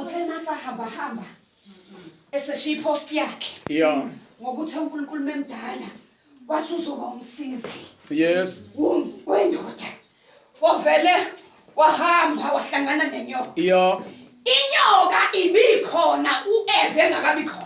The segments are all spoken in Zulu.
uthe masahamba hamba eseshiya ipost yakhe yeah ngokuthi uNkulunkulu memdala wathi uzoba umsizi yes wendoda wavele wahamba wahlangana nenyoka yeah inyoka ibikhona uEve engakabi khona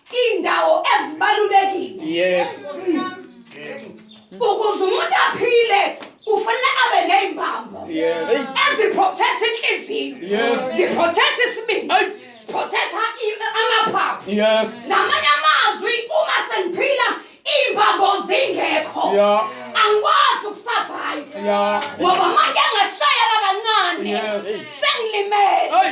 Indawo ezibalulekile. Yes. Ukuze umuntu aphile ufanele abe ney'mbambo Yes. eziprotect inhliziyo Yes. ziprotect isibindi Ay. ziprotect i- amaphaphu Yes. ngamanye amazwi uma sengiphila iy'mbambo zingekho Yeah. angikwazi ukusurvive Yeah. ngoba manje ngashayela kancane Yes. sengilimele Ay.